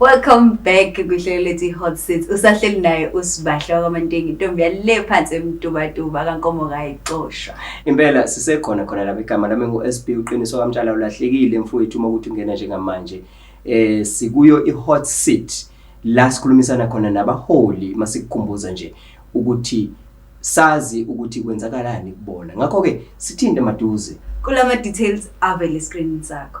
Welcome back kuhlelo lethi Hot Seats. Usahleli naye usibahle wakwaMantengi intombi yale phansi emtubatuba kankomo kayicoshwa. Impela sisekhona khona lapha igama lami nguSB uqiniso kamtshana ulahlekile mfowethu uma ukuthi ungena njengamanje. Eh sikuyo iHot Seat la sikhulumisana khona nabaholi masikukhumbuza nje ukuthi sazi ukuthi kwenzakalani kubona. Ngakho ke sithinte maduze kulama details avele screen sakho.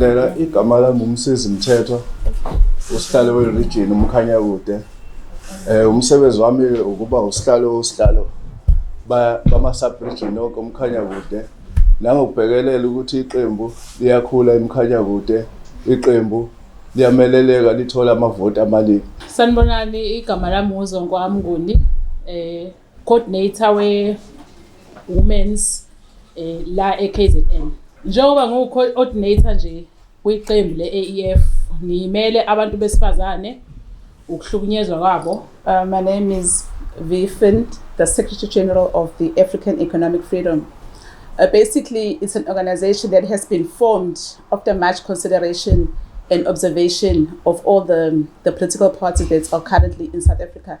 Lela igama lami umsizi Mthethwa usihlale weRegion umkhanya kude. Eh umsebenzi wami ukuba usihlale usihlalo bama subregion onke umkhanya kude. Nangokubhekelela ukuthi iqembu liyakhula emkhanya kude. Iqembu liyameleleka lithola amavoti amaningi. Sanibonani igama lami nguZonkwami Nguni eh coordinator we women's eh, la eKZN njengoba ngiwu coordinator nje kwiqembu le-AEF ngiyimele abantu besifazane ukuhlukunyezwa kwabo uh, my name is Vifind, the Secretary General of the African Economic Freedom. Uh, basically, it's an organization that has been formed after much consideration and observation of all the, the political parties that are currently in South Africa.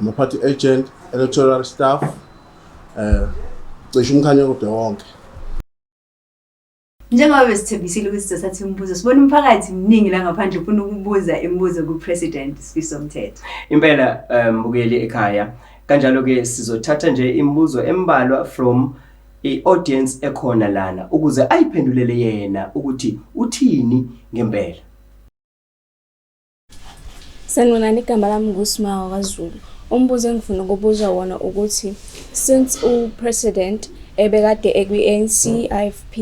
ama-party agent, electoral staff, eh cishe umkhanya kodwa wonke. Njengoba besithembisile ukuthi sizothatha imibuzo, sibona umphakathi mningi la ngaphandle ufuna ukubuza imibuzo kuPresident Sifiso Mthetho. Impela eh, mbukeli ekhaya kanjalo ke sizothatha nje imibuzo embalwa from i-audience ekhona lana ukuze ayiphendulele yena ukuthi uthini ngempela. Sanibonani, igama lami nguSimawa kaZulu. Umbuzo engifuna ukubuza wona ukuthi since upresident ebekade ekwi-ANC, IFP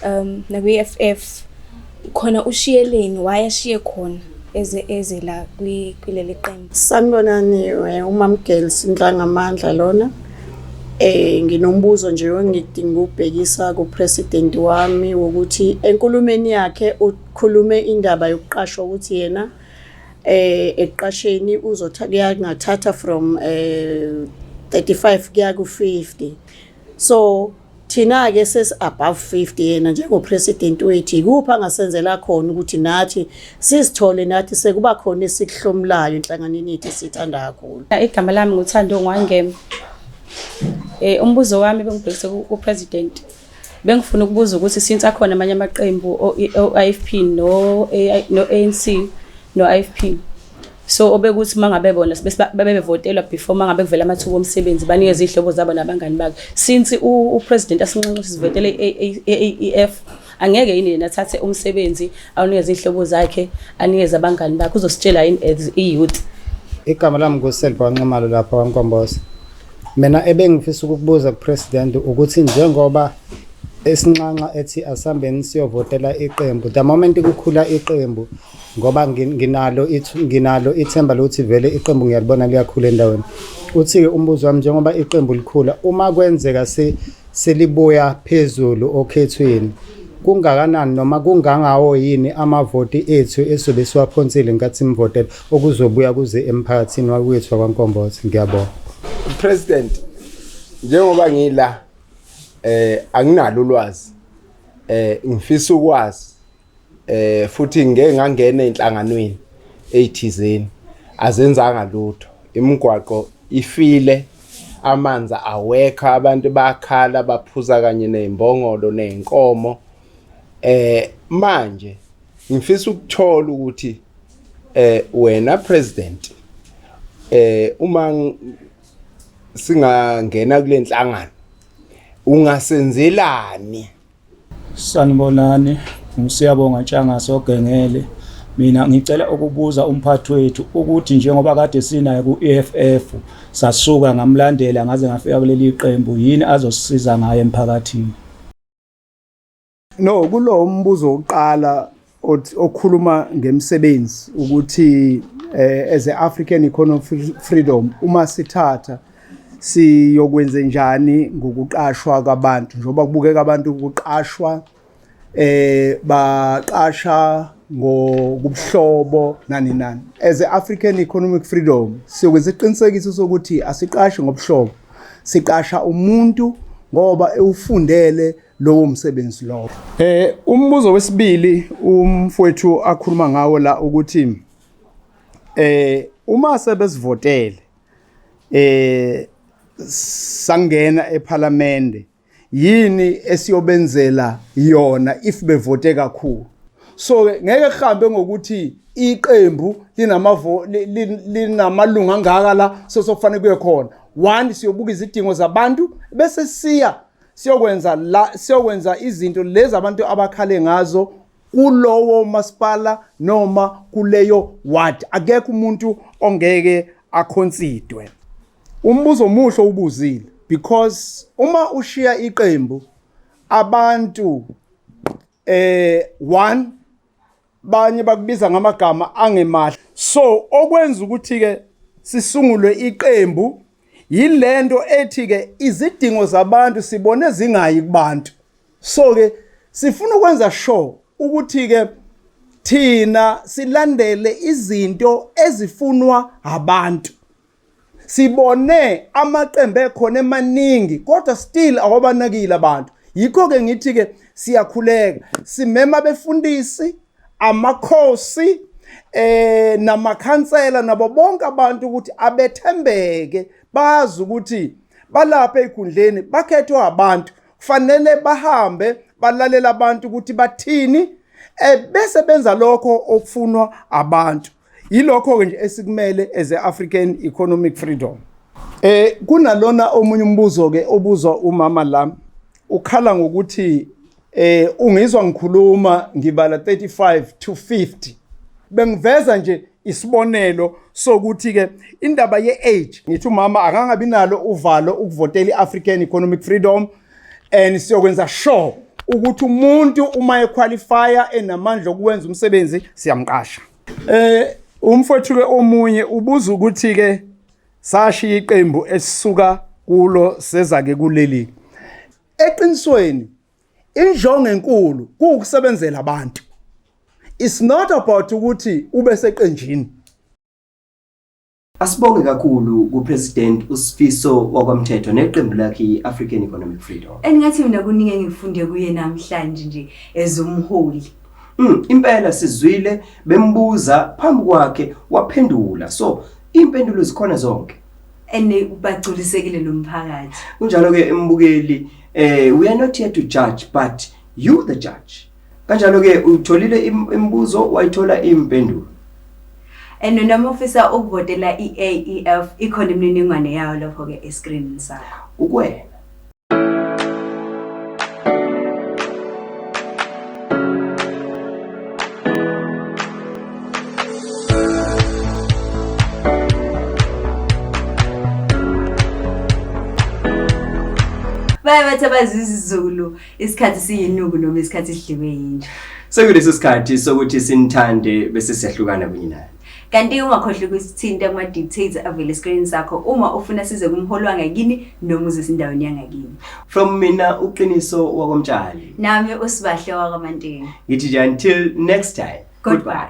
um nakwi-EFF khona ushiyeleni why ashiye khona eze eze la kuleli qembu. Sanibonani eh, uMamgeli Sintlanga Amandla lona. Eh nginombuzo nje engidinga ukubhekisa kupresident wami wokuthi enkulumeni yakhe khulume indaba yokuqashwa ukuthi yena eh ekuqasheni uzotha kuyangathatha from eh 35 kuya ku 50 so thina ke ses above 50 yena njengo president wethu ikuphi angasenzela khona ukuthi nathi sizithole nathi sekuba khona esikuhlomulayo enhlanganweni yethu sithanda kakhulu igama lami nguthando ngwangema eh umbuzo wami bengibhekise ku president Bengifuna ukubuza ukuthi since akhona amanye amaqembu o-IFP no-ANC no-IFP so obekuthi mangabe bona bebevotelwa before mangabe kuvela amathuba omsebenzi banikeza izihlobo zabo nabangani babo since upresident asinxenxa sivotele i-AEF angeke yini yena athathe umsebenzi awunikeze izihlobo zakhe anikeze abangani bakhe uzositshela yini as i-youth igama lami nguselibonximalo lapha wankomboza Mina ebengifisa ukukubuza kuPresident ukuthi njengoba esinxanxa ethi asambeni siyovotela iqembu the moment kukhula iqembu ngoba nginalo nginalo ithemba lokuthi vele iqembu ngiyalibona liyakhula endaweni uthi-ke umbuzo wami njengoba iqembu likhula uma kwenzeka selibuya phezulu okhethweni kungakanani noma kungangawo yini amavoti ethu esobe siwaphonsile nkathi simvotela okuzobuya kuze emphakathini wakwethu wakwaNkombothe ngiyabonga president njengoba ngila eh anginalo ulwazi eh ngifisa ukwazi eh futhi ngeke ngangena enhlanganweni eyithizeni azenzanga lutho imigwaqo ifile amanzi awekho abantu bakhala baphuza kanye nezimbongolo nezinkomo eh manje ngifisa ukuthola ukuthi eh wena president eh uma singangena kulenhlangano ungasenzelani sanibonani ngisiyabonga ntshanga sogengele mina ngicela ukubuza umphathi wethu ukuthi njengoba kade sinaye ku-EFF sasuka ngamlandela ngaze ngafika kuleli qembu yini azosisiza ngayo emphakathini No, kulo umbuzo wokuqala okhuluma ngemsebenzi ukuthi eh, as a African economic freedom uma sithatha siyokwenze njani ngokuqashwa kwabantu njengoba kubukeka abantu ukuqashwa eh baqasha ngokubuhlobo nani nani as a African economic freedom siyokwenza iqinisekiso sokuthi asiqashi ngobuhlobo siqasha umuntu ngoba ewufundele e lowo msebenzi lowo. Eh umbuzo wesibili umfowethu akhuluma ngawo la ukuthi eh uma sebesivotele eh sangena ephalamende yini esiyobenzela yona if bevote kakhulu so ngeke kuhambe ngokuthi iqembu linamavo linamalunga angaka la sosokufanele kuye khona one siyobuka izidingo zabantu bese siya siyokwenza la siyokwenza izinto lezi abantu abakhale ngazo kulowo masipala noma kuleyo ward akekho umuntu ongeke akhonsidwe umbuzo omuhle ubuzile because uma ushiya iqembu abantu eh one banye bakubiza ngamagama angemahle so okwenza ukuthi ke sisungulwe iqembu yilento ethi ke izidingo zabantu sibone zingayi kubantu so ke sifuna ukwenza sure ukuthi ke thina silandele izinto ezifunwa abantu sibone amaqembu ekhona emaningi kodwa still awabanakile abantu yikho-ke ngithi-ke siyakhuleka simema abefundisi amakhosi eh namakhansela nabo bonke abantu ukuthi abethembeke bazi ukuthi balapha ezikhundleni bakhethwe abantu kufanele bahambe balalela abantu ukuthi bathini eh bese benza lokho okufunwa abantu Yilokho-ke nje esikumele as e-African Economic Freedom. Eh kunalona omunye umbuzo ke obuzwa umama la ukhala ngokuthi eh ungizwa ngikhuluma ngibala 35 to 50 bengiveza nje isibonelo sokuthi ke indaba ye-age ngithi umama akangabi nalo uvalo ukuvotela i-african economic freedom and siyokwenza sure ukuthi umuntu uma equalifya enamandla okwenza umsebenzi siyamqasha eh umfowethu ke omunye ubuza ukuthi ke sashiya iqembu esisuka kulo seza ke kuleli eqinisweni injongo enkulu kuukusebenzela abantu it's not about ukuthi ube seqenjini Asibonge kakhulu kuPresident uSifiso wakwaMthetho neqembu lakhe i-African Economic Freedom. Engathi mina kuningi engifunde kuye namhlanje nje as umholi. Mm, impela sizwile bembuza phambi kwakhe waphendula. So impendulo zikhona zonke. Ene ubagculisekile nomphakathi. Kunjalo ke embukeli eh we are not here to judge but you the judge. Kanjalo ke uyitholile im- imibuzo wayithola impendulo. and noma ufisa ukuvotela i-aef ikhona imininingwane yayo lapho-ke eskrinini sakho Ukwena. baye bathi abazizizulu Isikhathi siyinuku noma isikhathi sidliwe yinja. Sekulesi sikhathi sokuthi sinithande bese siyahlukana kunye naye. Kanti ungakhohlwa ukusithinta kuma-dictates avele esikoleni sakho uma ufuna size kumholi wangakini noma uze sindaweni yangakini. From mina uqiniso wakwamtshali. Nami usibahle wakwamantini. Ngithi nje until next time. Goodbye.